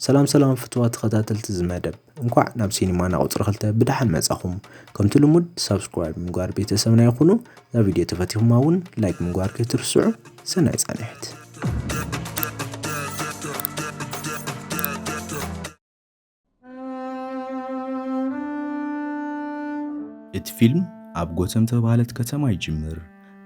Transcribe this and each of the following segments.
ሰላም ሰላም ፍትዋት ተኸታተልቲ እዚ መደብ እንኳዕ ናብ ሲኒማና ቁፅሪ ክልተ ብደሓን መፃኹም ከምቲ ልሙድ ሳብስክራይብ ምግባር ቤተሰብና ይኹኑ እዛ ቪድዮ ተፈቲኹማ እውን ላይክ ምግባር ከይትርስዑ ሰናይ ፃንሒት እቲ ፊልም ኣብ ጎተም ተባህለት ከተማ ይጅምር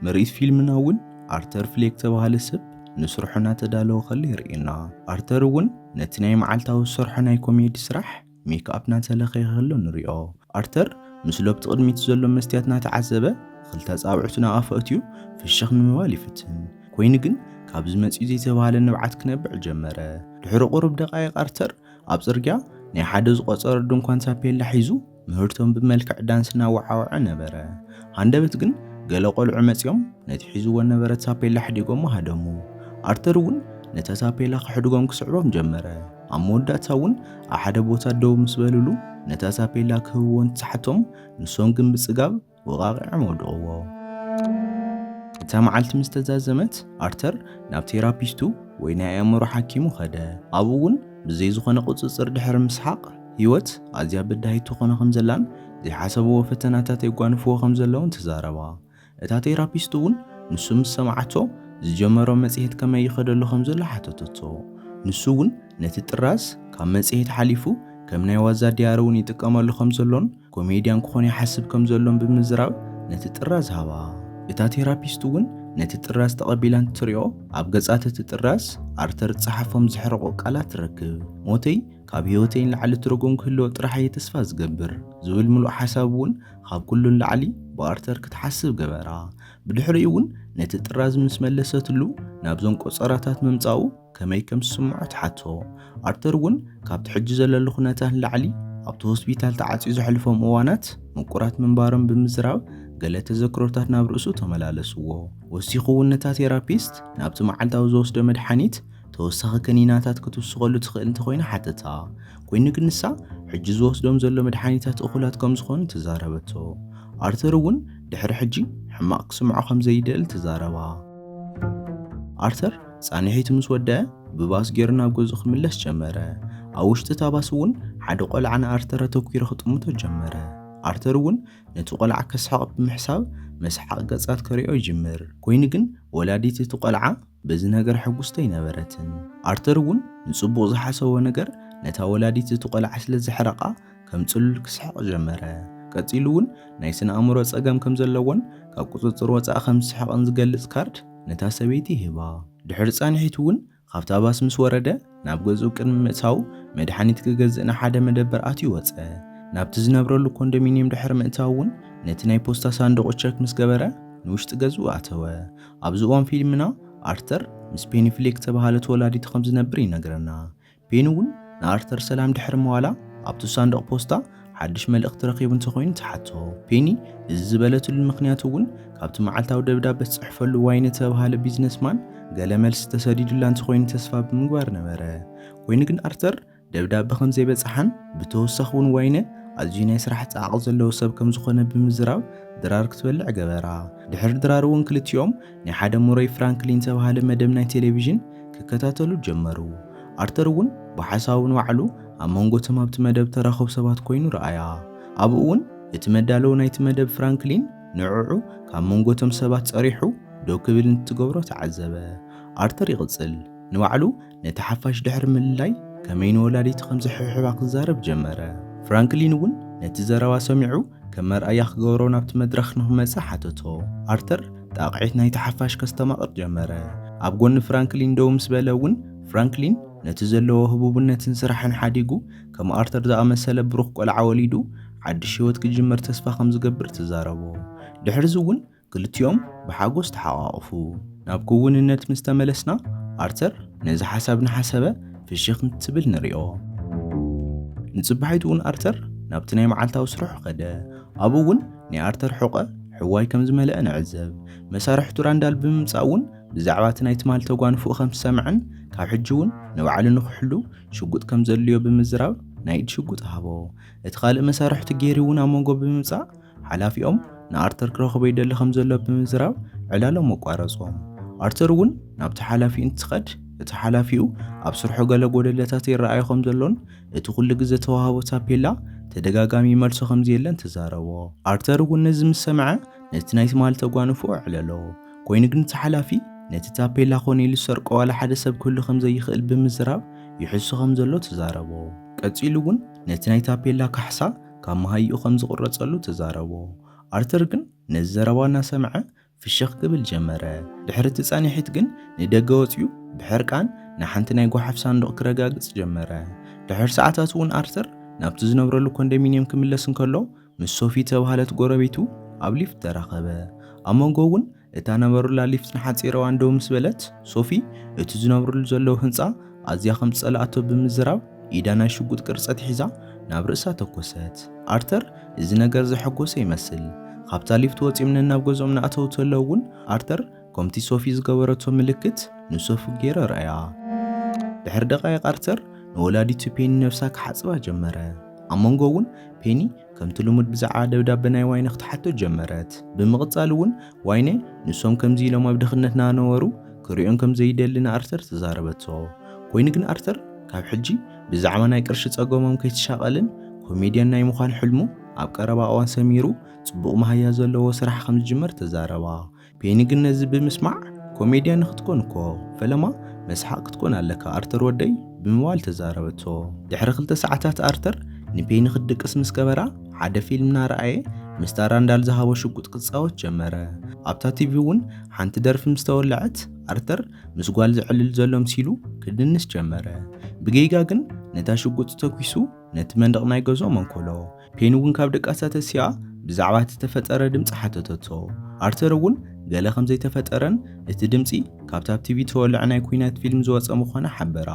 ምርኢት ፊልምና እውን ኣርተር ፍሌክ ተባሃለ ሰብ ንስርሑ እናተዳለወ ከሎ የርእየና። ኣርተር እውን ነቲ ናይ መዓልታዊ ዝሰርሖ ናይ ኮሜዲ ስራሕ ሜክኣፕ እናተለኽየ ከሎ ንሪኦ። ኣርተር ምስ ሎብቲ ቅድሚቱ ዘሎ መስትያት እናተዓዘበ ኽልተ ኣጻብዕቱ ናብ ኣፉ ኣእትዩ ፍሽኽ ንምባል ይፍትን። ኮይኑ ግን ካብዚ መጺኡ ዘይተባህለ ንብዓት ክነብዕ ጀመረ። ድሕሪ ቁሩብ ደቓይቕ ኣርተር ኣብ ጽርግያ ናይ ሓደ ዝቖጸረ ድንኳን ታፔላ ሒዙ ምህርቶም ብመልክዕ ዳንስ እናወዓወዐ ነበረ። ሃንደበት ግን ገለ ቆልዑ መጺኦም ነቲ ሒዝዎ ነበረ ታፔላ ኣሕዲጎሞ ሃደሙ። ኣርተር እውን ነታ ታፔላ ክሕድጎም ክስዕቦም ጀመረ። ኣብ መወዳእታ እውን ኣብ ሓደ ቦታ ደው ምስ በልሉ ነታ ታፔላ ክህብዎ እንትሓቶም ንሶም ግን ብጽጋብ ወቓቒዖም ኣውድቕዎ። እታ መዓልቲ ምስ ተዛዘመት፣ ኣርተር ናብ ቴራፒስቱ ወይ ናይ ኣእምሮ ሓኪሙ ኸደ። ኣብኡ እውን ብዘይ ዝዀነ ቍጽጽር ድሕሪ ምስሓቕ፣ ህይወት ኣዝያ በዳሂት ትዀኖ ኸም ዘላን ዘይሓሰብዎ ፈተናታት የጓንፍዎ ኸም ዘለዉን ተዛረባ። እታ ቴራፒስት እውን ንሱ ምስ ሰምዓቶ፣ ዝጀመሮ መጽሔት ከመይ ይኸደሉ ኸም ዘሎ ሓተተቶ። ንሱ እውን ነቲ ጥራዝ ካብ መጽሔት ሓሊፉ ከም ናይ ዋዛ ድያሪ እውን ይጥቀመሉ ኸም ዘሎን፣ ኮሜድያን ክኾን ይሓስብ ከም ዘሎን ብምዝራብ ነቲ ጥራዝ ሃባ። እታ ቴራፒስት እውን ነቲ ጥራዝ ተቐቢላ እንትትሪኦ፣ ኣብ ገጻት እቲ ጥራዝ ኣርተር ዝጸሓፎም ዘሕርቑ ቃላት ትረክብ። ሞተይ ካብ ህይወተይ ንላዕሊ ትርጉም ክህልዎ ጥራሕ እየ ተስፋ ዝገብር ዝብል ምሉእ ሓሳብ እውን ካብ ኩሉ ንላዕሊ ብኣርተር ክትሓስብ ገበራ። ብድሕሪኡ እውን ነቲ ጥራዝ ምስ መለሰትሉ ናብዞም ቆጸራታት ምምጻኡ፣ ከመይ ከም ዝስምዖ ትሓቶ። ኣርተር እውን ካብቲ ሕጂ ዘለሉ ኩነታት ንላዕሊ ኣብቲ ሆስፒታል ተዓጽዩ ዘሕልፎም እዋናት ምቁራት ምንባሮም ብምዝራብ ገለ ተዘክሮታት ናብ ርእሱ ተመላለስዎ። ወሲኹ እውን ነታ ቴራፒስት ናብቲ መዓልታዊ ዝወስዶ መድሓኒት ተወሳኺ ከኒናታት ክትውስኸሉ ትኽእል እንተኾይና ሓተታ። ኮይኑ ግን ንሳ ሕጂ ዝወስዶም ዘሎ መድሓኒታት እኹላት ከም ዝኾኑ ተዛረበቶ። ኣርተር እውን ድሕሪ ሕጂ ሕማቕ ክስምዖ ከም ዘይደሊ ተዛረባ። ኣርተር ጻንሒቱ ምስ ወድኣ ብባስ ጌሩ ናብ ገዝኡ ክምለስ ጀመረ። ኣብ ውሽጢ እታ ባስ እውን ሓደ ቆልዓ ንኣርተር ኣተኲሩ ክጥምቶ ጀመረ። ኣርተር እውን ነቲ ቆልዓ ከስሕቕ ብምሕሳብ መሰሓቒ ገጻት ከርእዮ ይጅምር። ኰይኑ ግን ወላዲት እቲ ቆልዓ በዚ ነገር ሕጉስቲ ኣይነበረትን። ኣርተር እውን ንጽቡቕ ዝሓሰቦ ነገር ነታ ወላዲት እቲ ቆልዓ ስለ ዘሕረቓ ከም ጽሉል ክስሕቕ ጀመረ። ቀጺሉ እውን ናይ ስነ ኣእምሮ ጸገም ከም ዘለዎን ካብ ቁጽጽር ወጻኢ ከም ዝስሕቕን ዝገልጽ ካርድ ነታ ሰበይቲ ሂባ። ድሕሪ ጻንሒት እውን ካብታ ባስ ምስ ወረደ ናብ ገዝኡ ቅድሚ ምእታዉ መድሓኒት ክገዝእ ናብ ሓደ መደበር ኣትዩ ወጸ። ናብቲ ዝነብረሉ ኮንዶሚንየም ድሕሪ ምእታዉ እውን ነቲ ናይ ፖስታ ሳንዱቑ ቸክ ምስ ገበረ ንውሽጢ ገዝኡ ኣተወ። ኣብዚ እዋን ፊልምና ኣርተር ምስ ፔኒ ፍሌክ ዝተባህለት ወላዲቱ ከም ዝነብር ይነግረና። ፔኒ እውን ንኣርተር ሰላም ድሕሪ ምባላ ኣብቲ ሳንዱቕ ፖስታ ሓድሽ መልእኽቲ ረኺቡ እንተኾይኑ ትሓቶ። ፔኒ እዚ ዝበለትሉ ምኽንያት እውን ካብቲ መዓልታዊ ደብዳበ ትጽሕፈሉ ዋይን እተብሃለ ቢዝነስማን ገለ መልሲ ተሰዲዱላ እንተኾይኑ ተስፋ ብምግባር ነበረ። ኮይኑ ግን ኣርተር ደብዳበ ከም ዘይበጽሓን ብተወሳኺ እውን ዋይነ ኣዝዩ ናይ ስራሕ ጻዕቒ ዘለዎ ሰብ ከም ዝኾነ ብምዝራብ ድራር ክትበልዕ ገበራ። ድሕሪ ድራር እውን ክልቲኦም ናይ ሓደ ሙረይ ፍራንክሊን ዝተባህለ መደብ ናይ ቴሌቪዥን ክከታተሉ ጀመሩ። ኣርተር እውን ብሓሳቡ ንባዕሉ ኣብ መንጎ እቶም ኣብቲ መደብ ተራኹብ ሰባት ኮይኑ ረኣያ። ኣብኡ እውን እቲ መዳለዊ ናይቲ መደብ ፍራንክሊን ንዕዑ ካብ መንጎ እቶም ሰባት ጸሪሑ ደው ክብል እንትትገብሮ ተዓዘበ። ኣርተር ይቕጽል፣ ንባዕሉ ነቲ ሓፋሽ ድሕሪ ምልላይ ከመይ ንወላዲቱ ከም ዝሕብሕባ ክዛረብ ጀመረ። ፍራንክሊን እውን ነቲ ዘረባ ሰሚዑ ከም መርኣያ ክገብሮ ናብቲ መድረኽ ንኽመጽእ ሓተቶ። ኣርተር ጣቕዒት ናይቲ ሓፋሽ ከስተማቕር ጀመረ። ኣብ ጎኒ ፍራንክሊን ደው ምስ በለ እውን ፍራንክሊን ነቲ ዘለዎ ህቡብነትን ስራሕን ሓዲጉ ከም ኣርተር ዝኣመሰለ ብሩኽ ቆልዓ ወሊዱ ሓድሽ ህይወት ክጅምር ተስፋ ከም ዝገብር ተዛረቦ። ድሕርዚ እውን ክልቲኦም ብሓጎስ ተሓቛቝፉ። ናብ ክውንነት ምስ ተመለስና፣ ኣርተር ነዚ ሓሳብ እናሓሰበ ፍሽኽ እንትብል ንሪኦ። ንጽባሒቱ'ውን ኣርተር ናብቲ ናይ መዓልታዊ ስርሑ ከደ። ኣብኡ'ውን ናይ ኣርተር ሕቖ ሕዋይ ከም ዝመልኣ ንዕዘብ። መሳርሕቱ ራንዳል ብምምጻእ'ውን ብዛዕባ እቲ ናይ ትማሊ ተጓንፎኡ ከም ዝሰምዐን ካብ ሕጂ'ውን ንባዕሉ ንኽሕሉ ሽጉጥ ከም ዘድልዮ ብምዝራብ ናይ ኢድ ሽጉጥ ሃቦ። እቲ ካልእ መሳርሕቱ ጌሪ'ውን ኣብ መንጎ ብምምጻእ ሓላፊኦም ንኣርተር ክረኽቦ ይደሊ ከም ዘሎ ብምዝራብ ዕላሎም ኣቋረጾም። ኣርተር እውን ናብቲ ሓላፊኡ እንትኸድ እቲ ሓላፊኡ ኣብ ስርሑ ገለ ጎደለታት ይረኣዮ ከም ዘሎን እቲ ኩሉ ግዜ ተዋህቦ ታፔላ ተደጋጋሚ ይመልሶ ከም ዘየለን ተዛረቦ። ኣርተር እውን ነዚ ምስ ሰምዐ ነቲ ናይ ትማሊ ተጓንፎ ኣዕለሎ። ኮይኑ ግን እቲ ሓላፊ ነቲ ታፔላ ኮነ ኢሉ ዝሰርቆ ዋላ ሓደ ሰብ ክህሉ ከም ዘይኽእል ብምዝራብ ይሕሱ ከም ዘሎ ተዛረቦ። ቀጺሉ እውን ነቲ ናይ ታፔላ ካሕሳ ካብ መሃይኡ ከም ዝቝረጸሉ ተዛረቦ። ኣርተር ግን ነዚ ዘረባ እናሰምዐ ፍሽኽ ክብል ጀመረ። ድሕሪ እቲ ጻኒሒት ግን ንደገ ወጺኡ ብሕርቃን ንሓንቲ ናይ ጓሓፍ ሳንዱቕ ክረጋግጽ ጀመረ። ድሕሪ ሰዓታት እውን ኣርተር ናብቲ ዝነብረሉ ኮንደሚንየም ክምለስ እንከሎ ምስ ሶፊ እተባህለት ጐረቤቱ ኣብ ሊፍት ተራኸበ። ኣብ መንጎ እውን እታ ነበሩላ ሊፍት ንሓጺር እዋን ደው ምስ በለት፣ ሶፊ እቲ ዝነብሩሉ ዘለዉ ህንጻ ኣዝያ ከም ዝጸልኣቶ ብምዝራብ ኢዳ ናይ ሽጉጥ ቅርጺ ኣትሒዛ ናብ ርእሳ ተኮሰት። ኣርተር እዚ ነገር ዘሐጎሶ ይመስል። ካብታ ሊፍት ወጺኦም ነናብ ገዝኦም እናኣተዉ ተለዉ እውን ኣርተር ከምቲ ሶፊ ዝገበረቶ ምልክት ንሶፊ ገይሩ ኣርኣያ። ድሕሪ ደቓይቕ ኣርተር ንወላዲቱ ፔኒ ነብሳ ክሓጽባ ጀመረ። ኣብ መንጎ እውን ፔኒ ከምቲ ልሙድ ብዛዕባ ደብዳበ ናይ ዋይነ ክትሓቶ ጀመረት። ብምቕጻል እውን ዋይነ ንሶም ከምዚ ኢሎም ኣብ ድኽነት ናነበሩ ክርእዮም ከም ዘይደሊ ንኣርተር ተዛረበቶ። ኮይኑ ግን ኣርተር ካብ ሕጂ ብዛዕባ ናይ ቅርሺ ጸገሞም ከይተሻቐልን ኮሜድያን ናይ ምዃን ሕልሙ ኣብ ቀረባ እዋን ሰሚሩ ጽቡቕ መሃያ ዘለዎ ስራሕ ከም ዝጅመር ተዛረባ። ፔኒ ግን ነዚ ብምስማዕ ኮሜድያ ንክትኮን እኮ ፈለማ መስሓቅ ክትኮን ኣለካ ኣርተር ወደይ ብምባል ተዛረበቶ። ድሕሪ ክልተ ሰዓታት ኣርተር ንፔኒ ክትድቅስ ምስ ገበራ ሓደ ፊልም እናረኣየ ምስታ ራንዳል ዝሃቦ ሽጉጥ ክጻወት ጀመረ። ኣብታ ቲቪ እውን ሓንቲ ደርፊ ምስ ተወለዐት ኣርተር ምስ ጓል ዘዕልል ዘሎ ምሲሉ ክድንስ ጀመረ። ብጌጋ ግን ነታ ሽጉጥ ተኪሱ ነቲ መንደቕ ናይ ገዝኦም ኣንኮሎ። ፔን እውን ካብ ደቃሳ ተሲኣ ብዛዕባ እቲ ዝተፈጠረ ድምጺ ሓተተቶ። ኣርተር እውን ገለ ከም ዘይተፈጠረን እቲ ድምጺ ካብቲ ኣብ ቲቪ እተወልዐ ናይ ኲናት ፊልም ዝወጸ ምዃነ ሓበራ።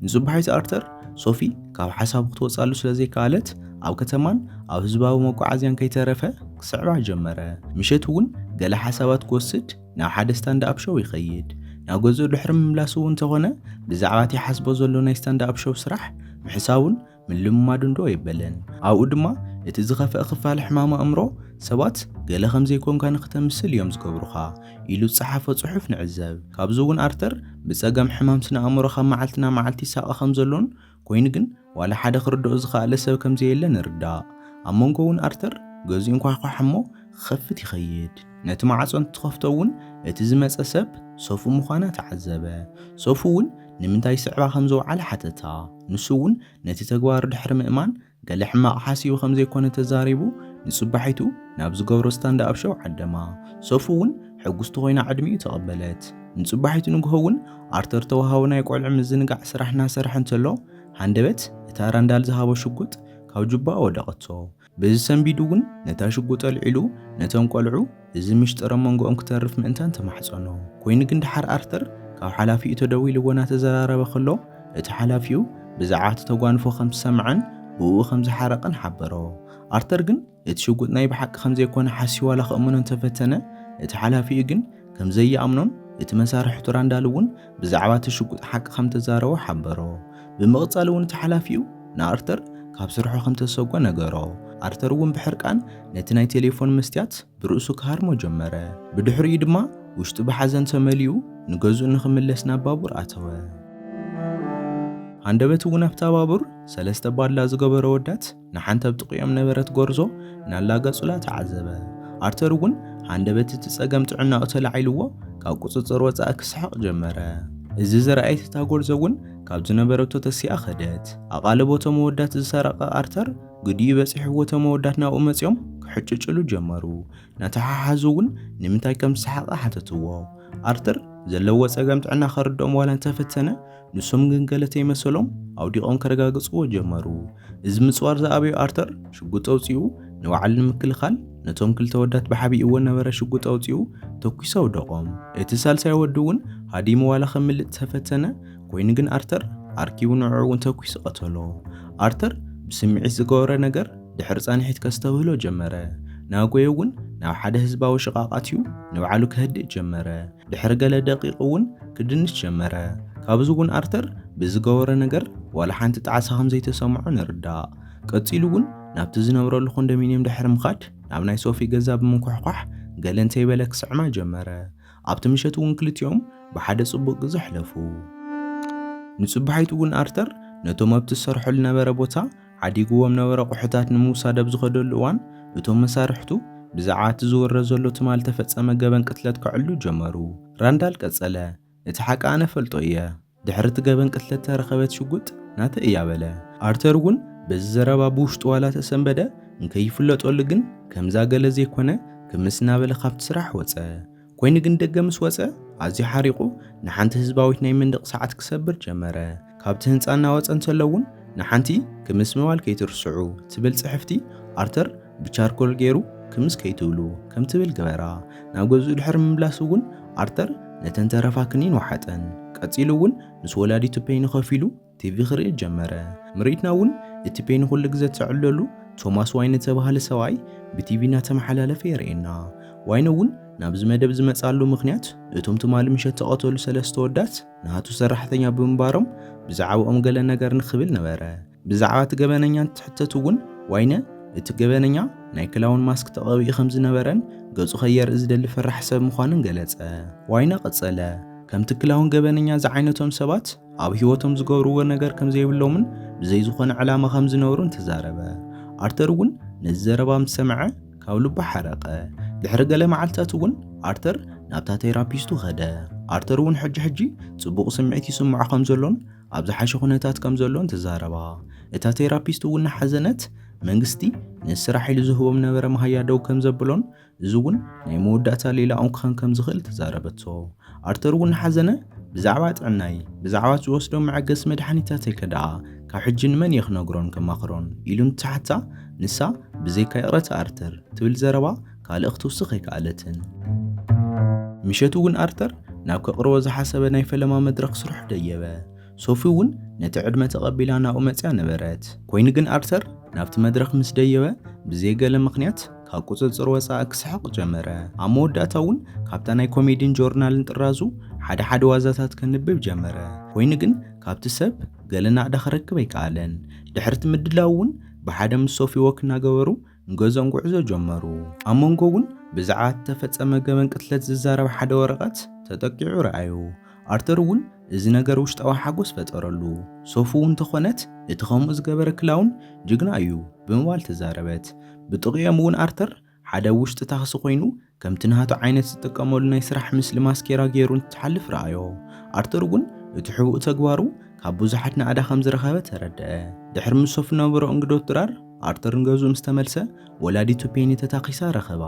ንጽባሒት ኣርተር፣ ሶፊ ካብ ሓሳቡ ክትወጽኣሉ ስለ ዘይከኣለት ኣብ ከተማን ኣብ ህዝባዊ መጓዓዝያን ከይተረፈ ክስዕባ ጀመረ። ምሸት እውን ገለ ሓሳባት ክወስድ ናብ ሓደ ስታንድ ኣፕ ሾው ይኸይድ። ናብ ገዝኡ ድሕሪ ምምላሱ እውን እንተኾነ ብዛዕባ እቲ ይሓስቦ ዘሎ ናይ ስታንድ ኣፕ ሾው ስራሕ ምሕሳቡን ምልምማዱ እንዶ ኣይበለን። ኣብኡ ድማ እቲ ዝኸፍኣ ክፋል ሕማም ኣእምሮ፣ ሰባት ገለ ከም ዘይኮንካ ንኽተምስል እዮም ዝገብሩኻ ኢሉ ዝጸሓፎ ጽሑፍ ንዕዘብ። ካብዚ እውን ኣርተር ብጸገም ሕማም ስነ ኣእምሮ ካብ መዓልቲ ናብ መዓልቲ ይሳቐ ከም ዘሎን ኮይኑ ግን ዋላ ሓደ ክርድኦ ዝኸኣለ ሰብ ከም ዘየለ ንርዳእ። ኣብ መንጎ እውን ኣርተር ገዝኡ ይንኳሕኳሕ እሞ ክኸፍት ይኸይድ። ነቲ ማዕጾ እንትትኸፍቶ እውን እቲ ዝመጸ ሰብ ሶፊ ምዃና ተዓዘበ። ሶፊ እውን ንምንታይ ይስዕባ ከም ዝወዓለ ሓተታ። ንሱ እውን ነቲ ተግባሩ ድሕሪ ምእማን ገለ ሕማቕ ሓሲቡ ከም ዘይኮነ ተዛሪቡ ንጽባሒቱ ናብ ዝገብሮ ስታንድኣፕ ሸው ዓደማ። ሶፊ እውን ሕጉስቲ ኮይና ዕድሚኡ ተቐበለት። ንጽባሒቱ ንግሆ እውን ኣርተር ተወሃቦ ናይ ቆልዑ ምዝንጋዕ ስራሕ እናሰርሐ እንተሎ ሃንደበት እታ ራንዳል ዝሃቦ ሽጉጥ ካብ ጁባኡ ወደቐቶ። በዚ ሰንቢዱ ውን ነታ ሽጉጥ ኣልዒሉ ነቶም ቆልዑ እዚ ምሽጥር ኣብ መንጎኦም ክተርፍ ምእንታን ተማሕጸኖ። ኮይኑ ግን ደሓር ኣርተር ካብ ሓላፊኡ ተደዊልዎ ናተዘራረበ ከሎ እቲ ሓላፊኡ ብዛዕባ እቲ ተጓንፎ ከም ዝሰምዐን ብእኡ ከም ዝሓረቐን ሓበሮ። ኣርተር ግን እቲ ሽጉጥ ናይ ብሓቂ ከም ዘይኮነ ሓስዩ ዋላ ከእምኖ እንተፈተነ እቲ ሓላፊኡ ግን ከም ዘይኣምኖን እቲ መሳርሒ ቱራንዳል እውን ብዛዕባ እቲ ሽጉጥ ሓቂ ከም እተዛረቦ ሓበሮ። ብምቕጻል እውን እቲ ሓላፊኡ ንኣርተር ካብ ስርሑ ከም እተሰጐ ነገሮ። ኣርተር እውን ብሕርቃን ነቲ ናይ ቴሌፎን መስትያት ብርእሱ ክሃርሞ ጀመረ። ብድሕሪኡ ድማ ውሽጡ ብሓዘን ተመሊኡ ንገዝኡ ንኽምለስ ናብ ባቡር ኣተወ። ሃንደበት እውን ኣብታ ባቡር ሰለስተ ባድላ ዝገበሩ ኣወዳት ንሓንቲ ኣብ ጥቕኦም ነበረት ጎርዞ እናላገጹላ ተዓዘበ። ኣርተር እውን ሃንደበት እቲ ጸገም ጥዕናኡ ተላዒልዎ ካብ ቁጽጽር ወጻኢ ክስሕቕ ጀመረ። እዚ ዝረኣየት እታ ጎርዞ እውን ካብ ዝነበረቶ ተሲኣ ከደት። ኣቓልቦ እቶም ኣወዳት ዝሰረቐ ኣርተር ግዲኡ በጺሕዎ እቶም ኣወዳት ናብኡ መጺኦም ክሕጭጭሉ ጀመሩ። እናተሓሓዙ እውን ንምንታይ ከም ዝሰሓቐ ሓተትዎ። ኣርተር ዘለዎ ጸገም ጥዕና ከርድኦም ዋላ እንተፈተነ፣ ንሶም ግን ገለ ተይመሰሎም ኣውዲቖም ከረጋግጽዎ ጀመሩ። እዚ ምጽዋር ዝኣበዮ ኣርተር ሽጉጥ ኣውጺኡ ንባዕሉ ንምክልኻል ነቶም ክልተ ወዳት ብሓቢእዎ ነበረ ሽጉጥ ኣውጺኡ ተኲሱ ኣውደቖም። እቲ ሳልሳይ ወዲ'ውን ሃዲሙ ዋላ ከምልጥ ተፈተነ ኮይኑ ግን ኣርተር ኣርኪቡ ንዕዑ'ውን ተኲሱ ቀተሎ። ኣርተር ብስምዒት ዝገበሮ ነገር ድሕሪ ጻንሒት ከስተብህሎ ጀመረ። ናጎየ'ውን ናብ ሓደ ህዝባዊ ሽቓቕ ኣትዩ ንባዕሉ ከህድእ ጀመረ። ድሕሪ ገለ ደቂቕ እውን ክድንስ ጀመረ። ካብዚ እውን ኣርተር ብዝገበሮ ነገር ዋላ ሓንቲ ጣዕሳ ከም ዘይተሰምዖ ንርዳእ። ቀጺሉ እውን ናብቲ ዝነብረሉ ኮንዶሚንየም ድሕሪ ምኻድ ናብ ናይ ሶፊ ገዛ ብምንኳሕኳሕ ገለ እንተይበለ ክስዕማ ጀመረ። ኣብቲ ምሸት እውን ክልቲኦም ብሓደ ጽቡቕ ግዜ ኣሕለፉ። ንጽባሒቱ እውን ኣርተር ነቶም ኣብቲ ዝሰርሖ ዝነበረ ቦታ ሓዲጉዎም ነበረ ኣቑሑታት ንምውሳድ ኣብ ዝኸደሉ እዋን እቶም መሳርሕቱ ብዛዕባ እቲ ዝውረ ዘሎ ትማል እተፈጸመ ገበን ቅትለት ከዕልሉ ጀመሩ። ራንዳል ቀጸለ፣ እቲ ሓቂ ኣነ እፈልጦ እየ። ድሕሪ እቲ ገበን ቅትለት እተረኸበት ሽጉጥ ናተይ እያ በለ። ኣርተር እውን በዚ ዘረባ ብውሽጡ ዋላ ተሰንበደ፣ እንከይፍለጠሉ ግን ከምዛ ገለ ዘይኰነ ክምስ እናበለ ኻብቲ ስራሕ ወጸ። ኮይኑ ግን ደገ ምስ ወጸ ኣዝዩ ሓሪቑ ንሓንቲ ህዝባዊት ናይ መንደቕ ሰዓት ክሰብር ጀመረ። ካብቲ ህንጻ እናወጸ እንተሎ እውን ንሓንቲ ክምስ ምባል ከይትርስዑ ትብል ጽሕፍቲ ኣርተር ብቻርኮል ገይሩ ክምስ ከይትብሉ ከም ትብል ገበራ። ናብ ገዝኡ ድሕሪ ምምላሱ እውን ኣርተር ነተን ተረፋ ክኒን ወሓጠን። ቀጺሉ እውን ምስ ወላዲቱ ፐይኑ ከፊሉ ቲቪ ክርኢ ጀመረ። ምርኢትና እውን እቲ ፔኒ ኩሉ ግዘ እትዕልለሉ ቶማስ ዋይን እተባህለ ሰብኣይ ብቲቪ እናተመሓላለፈ የርእየና። ዋይን እውን ናብዚ መደብ ዝመፅኣሉ ምኽንያት እቶም ትማሊ ምሸት እተቐተሉ ሰለስተ ኣወዳት ናቱ ሰራሕተኛ ብምንባሮም ብዛዕብኦም ገለ ነገር ንኽብል ነበረ። ብዛዕባ እቲ ገበነኛ እንትሕተት እውን ዋይነ እቲ ገበነኛ ናይ ክላውን ማስክ ተቐቢኡ ከም ዝነበረን ገፁ ከየርኢ ዝደሊ ፈራሒ ሰብ ምዃኑን ገለፀ። ዋይነ ቀፀለ፣ ከምቲ ክላውን ገበነኛ ዝዓይነቶም ሰባት ኣብ ህይወቶም ዝገብርዎ ነገር ከም ዘይብሎምን ብዘይ ዝኾነ ዕላማ ከም ዝነበሩን ተዛረበ። ኣርተር እውን ነዚ ዘረባ ምስ ሰምዐ ካብ ልቡ ሓረቐ። ድሕሪ ገለ መዓልትታት እውን ኣርተር ናብታ ቴራፒስቱ ከደ። ኣርተር እውን ሕጂ ሕጂ ጽቡቕ ስምዒት ይስምዖ ከም ዘሎን ኣብ ዝሓሸ ኩነታት ከም ዘሎን ተዛረባ። እታ ቴራፒስት እውን እናሓዘነት መንግስቲ ነዚ ስራሕ ኢሉ ዝህቦም ነበረ መሃያ ደው ከም ዘብሎን እዚ እውን ናይ መወዳእታ ሌላኦም ክኸን ከም ዝኽእል ተዛረበቶ። ኣርተር እውን ሓዘነ፣ ብዛዕባ ጥዕናይ፣ ብዛዕባ ዝወስዶም መዐገሲ መድሓኒታተይ ከ ደኣ ካብ ሕጂ ንመን እየ ክነግሮን ከማኽሮን? ኢሉ እንትሓታ፣ ንሳ ብዘይካ ይቕረታ ኣርተር ትብል ዘረባ ካልእ ክትውስኽ ኣይከኣለትን። ምሸት እውን ኣርተር ናብ ከቕርቦ ዝሓሰበ ናይ ፈለማ መድረኽ ስርሑ ደየበ። ሶፊ እውን ነቲ ዕድመ ተቐቢላ ናብኡ መጺኣ ነበረት። ኮይኑ ግን ኣርተር ናብቲ መድረኽ ምስ ደየበ ብዘይ ገለ ምኽንያት፣ ካብ ቁጽጽር ወጻኢ ክስሕቕ ጀመረ። ኣብ መወዳእታ እውን ካብታ ናይ ኮሜዲን ጆርናልን ጥራዙ ሓደ ሓደ ዋዛታት ከንብብ ጀመረ። ኮይኑ ግን ካብቲ ሰብ ገለ ናእዳ ክረክብ ኣይከኣለን። ድሕሪቲ ምድላዉ እውን ብሓደ ምስ ሶፊ ወክ እናገበሩ ንገዝኦም ጉዕዞ ጀመሩ። ኣብ መንጎ እውን ብዛዕባ እቲ ተፈጸመ ገበን ቅትለት ዝዛረብ ሓደ ወረቐት ተጠቂዑ ረኣዩ። ኣርተር እውን እዚ ነገር ውሽጣዊ ሓጎስ ፈጠረሉ። ሶፉ እውን ተኾነት እቲ ከምኡ ዝገበረ ክላውን ጅግና እዩ ብምባል ተዛረበት። ብጥቕኦም እውን ኣርተር ሓደ ኣብ ውሽጢ ታክሲ ኮይኑ ከምቲ ናቱ ዓይነት ዝጥቀመሉ ናይ ስራሕ ምስሊ ማስኬራ ገይሩ እንትሓልፍ ረኣዮ። ኣርተር እውን እቲ ሕቡእ ተግባሩ ካብ ብዙሓት ናእዳ ከም ዝረኸበ ተረደኣ። ድሕሪ ምስ ሶፊ ዝነበሮ እንግዶት ድራር ኣርተር ንገዝኡ ምስ ተመልሰ ወላዲቱ ፔኒ ተታኪሳ ረኸባ።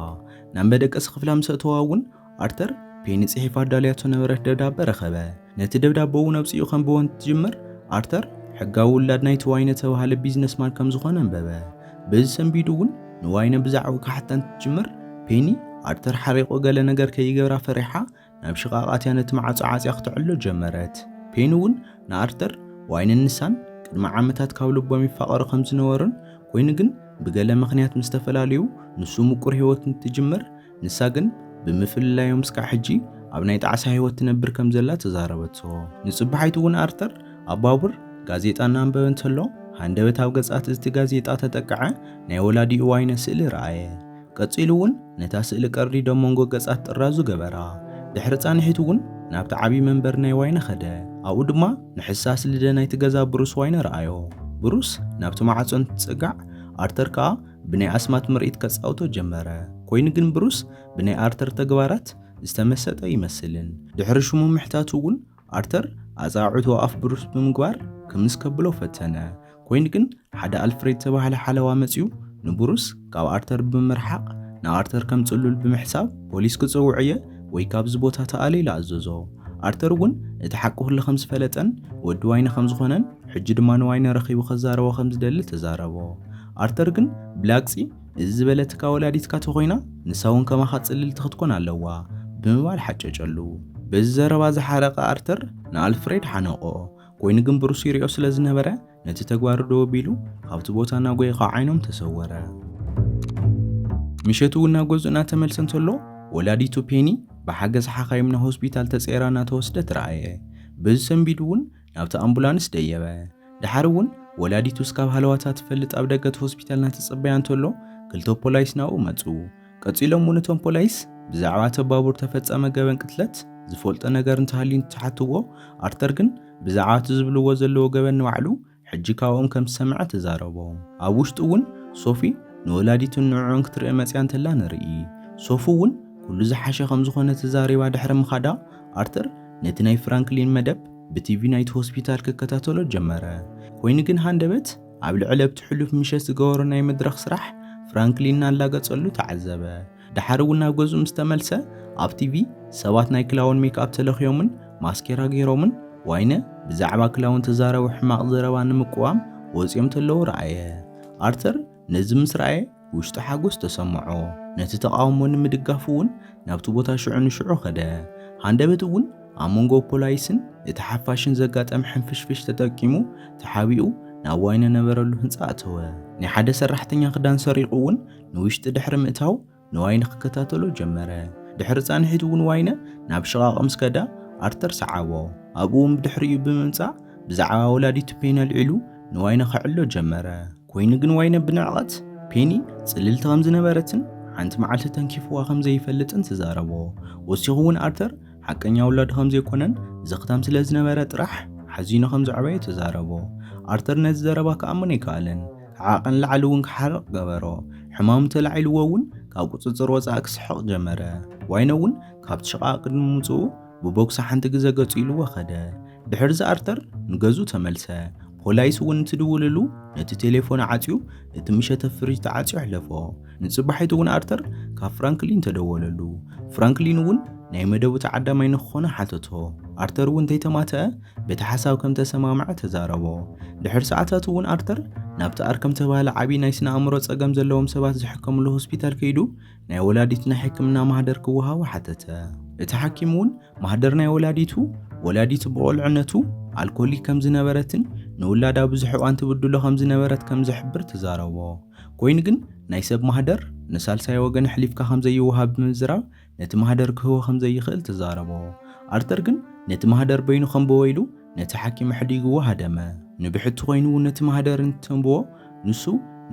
ናብ መደቀሲ ክፍላ ምስ ኣእተዋ እውን ኣርተር ፔኒ ጽሒፋ ኣዳልያቶ ነበረት ደብዳበ ረኸበ። ነቲ ደብዳበ እውን ኣብጺኡ ከንብቦ እንትጅምር ኣርተር ሕጋዊ ውላድ ናይቲ ዋይነ ተባሃለ ቢዝነስማን ከም ዝኾነ ኣንበበ። በዚ ሰንቢዱ እውን ንዋይነ ብዛዕባኡ ክሓታ እንትጅምር ፔኒ ኣርተር ሓሪቑ ገለ ነገር ከይገብራ ፈሪሓ ናብ ሽቓቓት እያ ነቲ መዓጾ ዓጽያ ክተዕሎ ጀመረት። ፔኒ እውን ንኣርተር ዋይነን ንሳን ቅድሚ ዓመታት ካብ ልቦም ይፋቐሩ ከም ዝነበሩን ኮይኑ ግን ብገለ ምኽንያት ምስ ተፈላለዩ ንሱ ምቁር ህይወት እንትጅምር ንሳ ግን ብምፍልላዮም እስካዕ ሕጂ ኣብ ናይ ጣዕሳ ህይወት ትነብር ከም ዘላ ተዛረበቶ። ንጽባሒቱ እውን ኣርተር ኣብ ባቡር ጋዜጣ እናንበበ እንተሎ ሃንደበት ኣብ ገጻት እቲ ጋዜጣ ተጠቅዐ ናይ ወላዲኡ ዋይነ ስእሊ ረኣየ። ቀጺሉ እውን ነታ ስእሊ ቀርዲዱ ኣብ መንጎ ገጻት ጥራዙ ገበራ። ድሕሪ ጻንሒት እውን ናብቲ ዓቢ መንበሪ ናይ ዋይነ ከደ። ኣብኡ ድማ ንሕሳስ ልደ ናይቲ ገዛ ብሩስ ዋይነ ረኣዮ። ብሩስ ናብቲ ማዕጾ እንትጸጋዕ ኣርተር ከኣ ብናይ ኣስማት ምርኢት ከጻውቶ ጀመረ። ኰይኑ ግን ብሩስ ብናይ ኣርተር ተግባራት ዝተመሰጠ ኣይመስልን። ድሕሪ ሽሙ ምሕታቱ እውን ኣርተር ኣጻዕዕቱ ኣፍ ብሩስ ብምግባር ክምስ ከብሎ ፈተነ። ኰይኑ ግን ሓደ ኣልፍሬድ ዝተባህለ ሓለዋ መጺኡ ንብሩስ ካብ ኣርተር ብምርሓቕ ንኣርተር ከም ጽሉል ብምሕሳብ ፖሊስ ክጸውዕ'የ ወይ ካብዚ ቦታ ተኣለ ኢሉ ኣዘዞ። ኣርተር እውን እቲ ሓቂ ኩሉ ከም ዝፈለጠን ወዲ ዋይነ ከም ዝዀነን ሕጂ ድማ ንዋይነ ረኺቡ ከዛረቦ ከም ዝደሊ ተዛረቦ። ኣርተር ግን ብላግጺ እዚ ዝበለትካ ወላዲትካ ተኾይና ንሳውን ከማኻ ጽልልቲ ክትኮን ኣለዋ ብምባል ሓጨጨሉ። በዚ ዘረባ ዝሓረቐ ኣርተር ንኣልፍሬድ ሓነቖ። ኮይኑ ግን ብሩስ ይሪኦ ስለ ዝነበረ ነቲ ተግባሩ ደው ኣቢሉ ካብቲ ቦታ እናጎየ ካብ ዓይኖም ተሰወረ። ምሸቱ እውን ናብ ገዝኡ እናተመልሰ እንተሎ ወላዲቱ ፔኒ ብሓገዝ ሓኻይም ናብ ሆስፒታል ተጸይራ እናተወስደት ረኣየ። በዚ ሰንቢዱ እውን ናብታ ኣምቡላንስ ደየበ። ደሓር እውን ወላዲቱ እስካብ ሃለዋታ ትፈልጥ ኣብ ደገ እቲ ሆስፒታል እናተጸበያ እንተሎ ክልተ ፖላይስ ናብኡ መጹ። ቀጺሎም እውን እቶም ፖላይስ ብዛዕባ እቲ ባቡር ተፈጸመ ገበን ቅትለት ዝፈልጦ ነገር እንተሃልዩ እንትሓትዎ ኣርተር ግን ብዛዕባ እቲ ዝብልዎ ዘለዎ ገበን ንባዕሉ ሕጂ ካብኦም ከም ዝሰምዐ ተዛረቦ። ኣብ ውሽጢ እውን ሶፊ ንወላዲቱን ንዕዑን ክትርኢ መጺኣ እንተላ ንርኢ። ሶፊ እውን ኩሉ ዝሓሸ ከም ዝኾነ ተዛሪባ ድሕሪ ምኻዳ ኣርተር ነቲ ናይ ፍራንክሊን መደብ ብቲቪ ናይቲ ሆስፒታል ክከታተሎ ጀመረ። ኮይኑ ግን ሃንደበት ኣብ ልዕሊ ኣብቲ ሕሉፍ ምሸት ዝገበሮ ናይ መድረኽ ስራሕ ፍራንክሊን እናላገጸሉ ተዓዘበ። ደሓር እውን ናብ ገዝኡ ምስ ተመልሰ ኣብ ቲቪ ሰባት ናይ ክላውን ሜክኣፕ ተለኽዮምን ማስኬራ ገይሮምን ዋይነ ብዛዕባ ክላውን ተዛረቡ ሕማቕ ዘረባ ንምቅዋም ወጺኦም ተለዉ ረኣየ። ኣርተር ነዚ ምስ ረኣየ ውሽጡ ሓጎስ ተሰምዖ፣ ነቲ ተቓውሞ ንምድጋፍ እውን ናብቲ ቦታ ሽዑ ንሽዑ ከደ። ሃንደበት እውን ኣብ መንጎ ፖላይስን እቲ ሓፋሽን ዘጋጠመ ሕንፍሽፍሽ ተጠቂሙ ተሓቢኡ ናብ ዋይን ነበረሉ ህንጻ ኣተወ። ናይ ሓደ ሰራሕተኛ ክዳን ሰሪቑ እውን ንውሽጢ ድሕሪ ምእታው፣ ንዋይነ ክከታተሎ ጀመረ። ድሕሪ ጻንሒት እውን ዋይነ ናብ ሽቓቕ ምስ ከዳ ኣርተር ሰዓቦ። ኣብኡ እውን ብድሕሪኡ ብምምጻእ ብዛዕባ ወላዲቱ ፔኒ ኣልዒሉ ንዋይነ ከዕሎ ጀመረ። ኮይኑ ግን ዋይነ ብንዕቐት ፔኒ ጽልልቲ ከም ዝነበረትን ሓንቲ መዓልቲ ተንኪፍዋ ከም ዘይፈልጥን ተዛረቦ። ወሲኹ እውን ኣርተር ሓቀኛ ውላዱ ከም ዘይኮነን ዘኽታም ስለ ዝነበረ ጥራሕ ሓዚኑ ከም ዘዕበዮ ተዛረቦ። ኣርተር ነዚ ዘረባ ክኣምን ኣይከኣለን። ዓቐን ንላዕሊ እውን ክሓርቕ ገበሮ። ሕማሙ ተላዒልዎ እውን ካብ ቁጽጽር ወጻኢ ክስሕቕ ጀመረ። ዋይነ እውን ካብቲ ሽቓቕ ቅድሚ ምውጽኡ ብቦክሲ ሓንቲ ግዘ ገጹ ኢልዎ ከደ። ድሕርዚ ኣርተር ንገዝኡ ተመልሰ። ፖላይስ እውን እንትድውልሉ ነቲ ቴሌፎን ዓጽዩ እቲ ምሸተ ፍሪጅ ተዓጽዩ ኣሕለፎ። ንጽባሒቱ እውን ኣርተር ካብ ፍራንክሊን ተደወለሉ። ፍራንክሊን እውን ናይ መደቡ ተዓዳማይ ንክኾነ ሓተቶ። ኣርተር እውን ተይተማተኣ በቲ ሓሳብ ከም ተሰማምዐ ተዛረቦ። ድሕሪ ሰዓታት እውን ኣርተር ናብቲ ኣርከም ዝተባህለ ዓብዪ ናይ ስነ ኣእምሮ ጸገም ዘለዎም ሰባት ዝሕከምሉ ሆስፒታል ከይዱ ናይ ወላዲት ናይ ሕክምና ማህደር ክወሃቦ ሓተተ። እቲ ሓኪም እውን ማህደር ናይ ወላዲቱ፣ ወላዲቱ ብቆልዕነቱ ኣልኮሊክ ከም ዝነበረትን ንውላዳ ብዙሕ እዋን ትብድሎ ከም ዝነበረት ከም ዝሕብር ተዛረቦ። ኮይኑ ግን ናይ ሰብ ማህደር ንሳልሳይ ወገን ኣሕሊፍካ ከም ዘይወሃብ ብምዝራብ ነቲ ማህደር ክህቦ ከም ዘይኽእል ተዛረቦ። ኣርተር ግን ነቲ ማህደር በይኑ ከንብቦ ኢሉ ነቲ ሓኪም ኣሕዲግዎ ሃደመ። ንብሕቲ ኮይኑ ነቲ ማህደር እንትተንብቦ ንሱ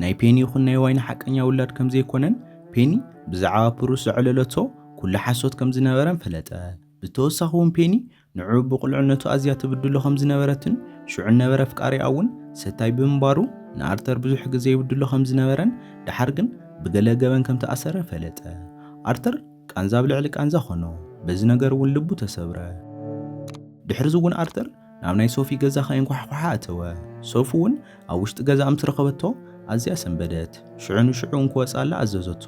ናይ ፔኒ ይኹን ናይ ዋይን ሓቀኛ ውላድ ከም ዘይኮነን ፔኒ ብዛዕባ ፕሩስ ዘዕለለቶ ኩሉ ሓሶት ከም ዝነበረን ፈለጠ። ብተወሳኺ እውን ፔኒ ንዑ ብቑልዕነቱ ኣዝያ ትብድሎ ከም ዝነበረትን ሽዑ እነበረ ኣፍቃሪኣ እውን ሰታይ ብምንባሩ ንኣርተር ብዙሕ ግዘ ይብድሎ ከም ዝነበረን ደሓር ግን ብገለ ገበን ከም ተኣሰረ ፈለጠ። ኣርተር ቃንዛ ኣብ ልዕሊ ቃንዛ ኾኖ፣ በዚ ነገር እውን ልቡ ተሰብረ። ድሕርዚ እውን ኣርተር ናብ ናይ ሶፊ ገዛ ከየንኳሕኳሓ ኣተወ። ሶፊ እውን ኣብ ውሽጢ ገዛኣ ምስ ረኸበቶ ኣዝያ ሰንበደት። ሽዑ ንሽዑ እንክወጽኣላ ኣዘዘቶ።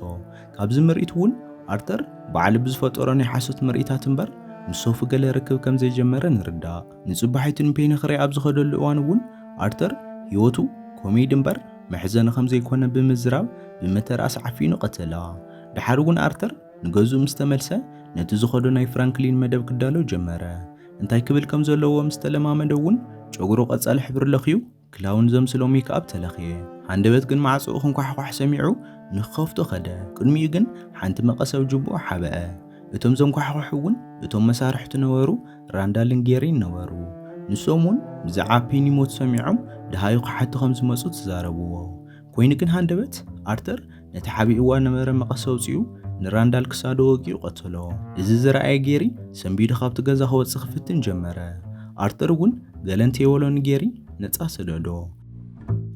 ካብዚ ምርኢት እውን ኣርተር ባዕሉ ብዝፈጠሮ ናይ ሓሶት ምርኢታት እምበር ምስ ሶፊ ገለ ርክብ ከም ዘይጀመረ ንርዳእ። ንጽባሒቱ ንፔኒ ክርኢ ኣብ ዝኸደሉ እዋን እውን ኣርተር ህይወቱ ኮሜዲ እምበር መሕዘኒ ከም ዘይኮነ ብምዝራብ ብመተርኣስ ዓፊኑ ቀተላ። ደሓር እውን ኣርተር ንገዝኡ ምስ ተመልሰ ነቲ ዝኸዶ ናይ ፍራንክሊን መደብ ክዳሎ ጀመረ። እንታይ ክብል ከም ዘለዎ ምስ ተለማመደ እውን ጨጉሩ ቀጻሊ ሕብሪ ለኽዩ ክላውን ዘምስሎ ሜክኣፕ ተለኽየ። ሃንደበት ግን ማዕጾኡ ክንኳሕኳሕ ሰሚዑ ንክኸፍቶ ከደ። ቅድሚኡ ግን ሓንቲ መቐስ ኣብ ጁብኡ ሓብአ። እቶም ዘንኳሕኩሑ እውን እቶም መሳርሕቱ ነበሩ፣ ራንዳልን ጌሪን ነበሩ። ንሶም እውን ብዛዕባ ፔኒ ሞት ሰሚዖም ደሃዩ ክሓቱ ከም ዝመጹ ተዛረብዎ። ኮይኑ ግን ሃንደበት ኣርተር ነቲ ሓቢእዋ ነበረ መቐስ ኣውጺኡ ንራንዳል ክሳዱ ወጊኡ ቀተሎ። እዚ ዝረኣየ ጌሪ ሰንቢዱ ካብቲ ገዛ ክወጽእ ክፍትን ጀመረ። ኣርተር እውን ገለ እንተይበሎ ንጌሪ ነጻ ሰደዶ።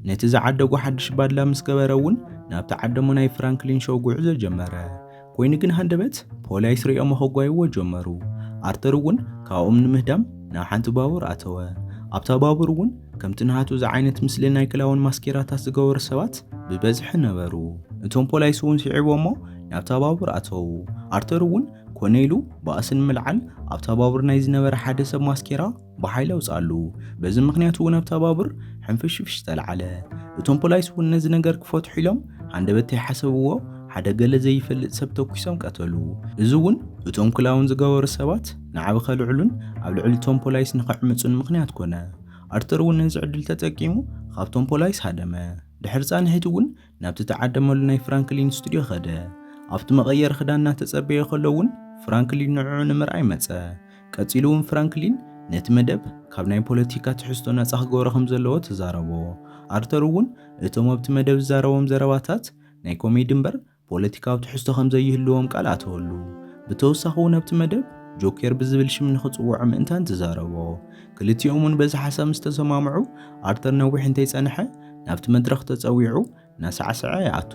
ነቲ ዝዓደጎ ሓድሽ ባድላ ምስ ገበረ እውን ናብቲ ዓደ'ሞ ናይ ፍራንክሊን ሾው ጉዕዞ ጀመረ። ኮይኑ ግን ሃንደበት ፖሊይስ ርእዮሞ ከጓይዎ ጀመሩ። ኣርተር እውን ካብኦም ንምህዳም ናብ ሓንቲ ባቡር ኣተወ። ኣብታ ባቡር እውን ከምቲ ናሃቱ ዝዓይነት ምስሊ ናይ ክላውን ማስኬራታት ዝገበሩ ሰባት ብበዝሒ ነበሩ። እቶም ፖሊይስ እውን ሲዒቦሞ ናብታ ባቡር ኣተዉ። ኣርተር እውን ኮነ ኢሉ ባእሲ ንምልዓል ኣብታ ባቡር ናይ ዝነበረ ሓደ ሰብ ማስኬራ ብሓይሊ ኣውጽኣሉ። በዚ ምኽንያት እውን ኣብታ ባቡር ሕንፍሽፍሽ ተልዓለ። እቶም ፖላይስ እውን ነዚ ነገር ክፈትሑ ኢሎም ሃንደበት ተይሓሰብዎ ሓደ ገለ ዘይፈልጥ ሰብ ተኲሶም ቀተሉ። እዚ እውን እቶም ክላውን ዝገበሩ ሰባት ናዕቢ ከልዕሉን ኣብ ልዕሊ እቶም ፖላይስ ንኽዕምጹን ምኽንያት ኮነ። ኣርተር እውን ነዚ ዕድል ተጠቂሙ ኻብቶም ፖላይስ ሃደመ። ድሕሪ ጻንሒት እውን ናብቲ እተዓደመሉ ናይ ፍራንክሊን ስቱድዮ ኸደ። ኣብቲ መቐየሪ ኽዳን እናተጸበየ ኸሎ እውን ፍራንክሊን ንዕዑ ንምርኣይ መጸ። ቀጺሉ እውን ፍራንክሊን ነቲ መደብ ካብ ናይ ፖለቲካ ትሕዝቶ ናጻ ክገብሮ ከም ዘለዎ ተዛረቦ። ኣርተር እውን እቶም ኣብቲ መደብ ዝዛረቦም ዘረባታት ናይ ኮሜዲ እምበር ፖለቲካዊ ትሕዝቶ ከም ዘይህልዎም ቃል ኣተወሉ። ብተወሳኺ እውን ኣብቲ መደብ ጆኬር ብዝብል ሽም ንኽጽውዖ ምእንታን ተዛረቦ። ክልቲኦም እውን በዚ ሓሳብ ምስ ተሰማምዑ ኣርተር ነዊሕ እንተይጸንሐ ናብቲ መድረኽ ተጸዊዑ እናሳዕሰዐ ይኣቱ።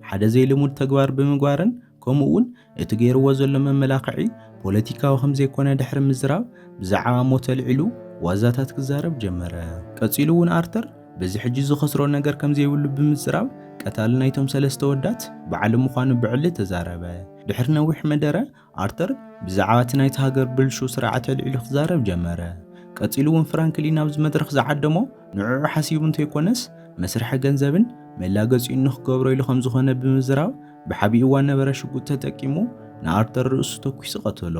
ሓደ ዘይልሙድ ተግባር ብምግባርን ከምኡ እውን እቲ ገይርዎ ዘሎ መመላኽዒ ፖለቲካዊ ከም ዘይኮነ ድሕሪ ምዝራብ ብዛዕባ ሞት ኣልዒሉ ዋዛታት ክዛረብ ጀመረ። ቀጺሉ እውን ኣርተር በዚ ሕጂ ዝኸስሮ ነገር ከም ዘይብሉ ብምጽራብ ቀታሊ ናይቶም ሰለስተ ወዳት ባዕሉ ምዃኑ ብዕሊ ተዛረበ። ድሕሪ ነዊሕ መደረ ኣርተር ብዛዕባ እቲ ናይቲ ሃገር ብልሹው ስርዓት ኣልዒሉ ክዛረብ ጀመረ። ቀጺሉ እውን ፍራንክሊን ኣብዚ መድረኽ ዝዓደሞ ንዕዑ ሓሲቡ እንተይኮነስ መስርሒ ገንዘብን መላገጺኡን ንኽገብሮ ኢሉ ከም ዝኾነ ብምዝራብ ብሓቢኡ እዋን ነበረ ሽጉጥ ተጠቂሙ ንኣርተር ርእሱ ተኲሱ ቀተሎ።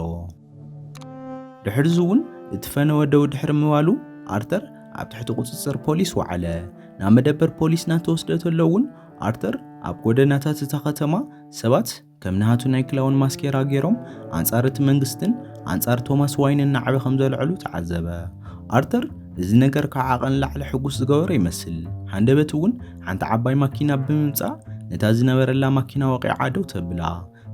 ድሕርዚ እውን እቲ ፈነወ ደው ድሕሪ ምባሉ ኣርተር ኣብ ትሕቲ ቁጽጽር ፖሊስ ወዓለ። ናብ መደበር ፖሊስ እናተወስደ ተሎ እውን ኣርተር ኣብ ጎደናታት እታ ከተማ ሰባት ከም ንሃቱ ናይ ክላውን ማስኬራ ገይሮም ኣንጻር እቲ መንግስትን ኣንጻር ቶማስ ዋይንን ናዕቢ ከም ዘልዐሉ ተዓዘበ። ኣርተር እዚ ነገር ካብ ዓቐን ንላዕሊ ሕጉስ ዝገበሮ ይመስል። ሃንደበት እውን ሓንቲ ዓባይ ማኪና ብምምጻእ ነታ ዝነበረላ ማኪና ወቂዓ ደው ተብላ።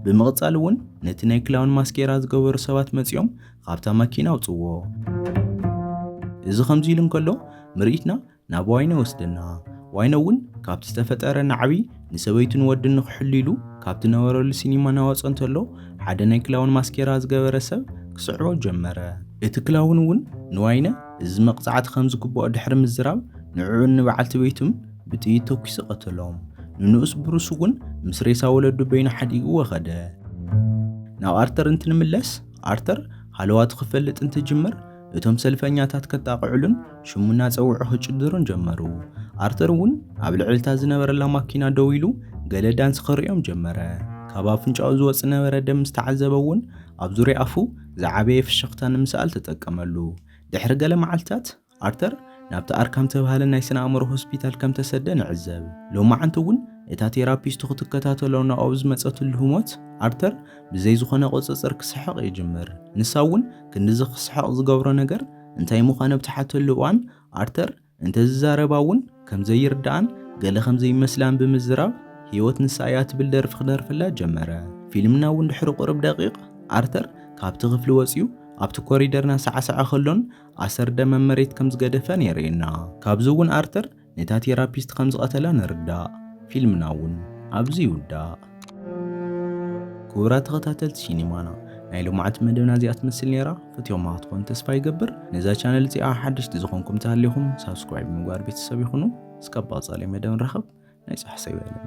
ብምቕጻል እውን ነቲ ናይ ክላውን ማስኬራ ዝገበሩ ሰባት መጺኦም ካብታ ማኪና ኣውጽዎ። እዚ ከምዚ ኢሉ እንከሎ ምርኢትና ናብ ዋይነ ወስደና። ዋይነ እውን ካብቲ ዝተፈጠረ ናዕቢ ንሰበይቱን ወድን ንክሕሉ ኢሉ ካብቲ ነበረሉ ሲኒማ ናወፀ እንተሎ ሓደ ናይ ክላውን ማስኬራ ዝገበረ ሰብ ክስዕቦ ጀመረ። እቲ ክላውን እውን ንዋይነ እዚ መቕጻዕቲ ከም ዝግብኦ ድሕሪ ምዝራብ፣ ንዕኡን ንበዓልቲ ቤቱን ብጥይት ተኲሱ ቀተሎም። ንንኡስ ብሩስ እውን ምስ ሬሳ ወለዱ በይኑ ሓዲግዎ ከደ። ናብ ኣርተር እንትንምለስ፣ ኣርተር ሃለዋቱ ክፈልጥ እንትጅምር፣ እቶም ሰልፈኛታት ከጣቕዕሉን ሽሙ እናጸውዑ ክጭድሩን ጀመሩ። ኣርተር እውን ኣብ ልዕሊ እታ ዝነበረላ ማኪና ደው ኢሉ ገለ ዳንስ ከርእዮም ጀመረ። ካብ ኣፍንጫኡ ዝወጽእ ዝነበረ ደም ምስ ተዓዘበ እውን ኣብ ዙርያ ኣፉ ዝዓበየ ፍሽኽታ ንምስኣል ተጠቀመሉ። ድሕሪ ገለ መዓልትታት፣ ኣርተር ናብቲ ኣርካም እተባህለ ናይ ስነ-ኣእምሮ ሆስፒታል ከም እተሰደ ንዕዘብ። ሎማዕንቲ እውን እታ ቴራፒስቱ ክትከታተሎ ናብኡ ኣብ ዝመጸትሉ ህሞት፣ ኣርተር ብዘይ ዝዀነ ቍጽጽር ክስሕቕ ይጅምር። ንሳ እውን ክንድዚ ክስሕቕ ዝገብሮ ነገር እንታይ ምዃኑ ኣብ እትሓተሉ እዋን፣ ኣርተር፣ እንተዝዛረባ'ውን ከም ዘይርድኣን ገለ ከም ዘይመስላን ብምዝራብ ህይወት ንሳ እያ ትብል ደርፊ ክደርፈላ ጀመረ። ፊልምና'ውን ድሕሪ ቁሩብ ደቒቕ ኣርተር ካብቲ ክፍሊ ወጺኡ ኣብቲ ኮሪደር እናሳዕሰዐ ከሎን ኣሰር ደም ኣብ መሬት ከም ዝገደፈን የርእየና። ካብዚ'ውን ኣርተር ነታ ቴራፒስት ከም ዝቐተላ ንርዳእ። ፊልምና'ውን ኣብዚ ይውዳእ። ክቡራት ተኸታተልቲ ሲኒማና ናይ ልምዓት መደብና እዚኣ ትመስል ነይራ ፈትዮማ ክትኾን ተስፋ ይገብር ነዛ ቻነል እዚኣ ሓደሽቲ ዝኾንኩም ተሃሊኹም ሳብስክራይብ ምግባር ቤተሰብ ይኹኑ እስካብ ባጻለይ መደብ ንራኸብ ናይ ጻሕሰ ይበለና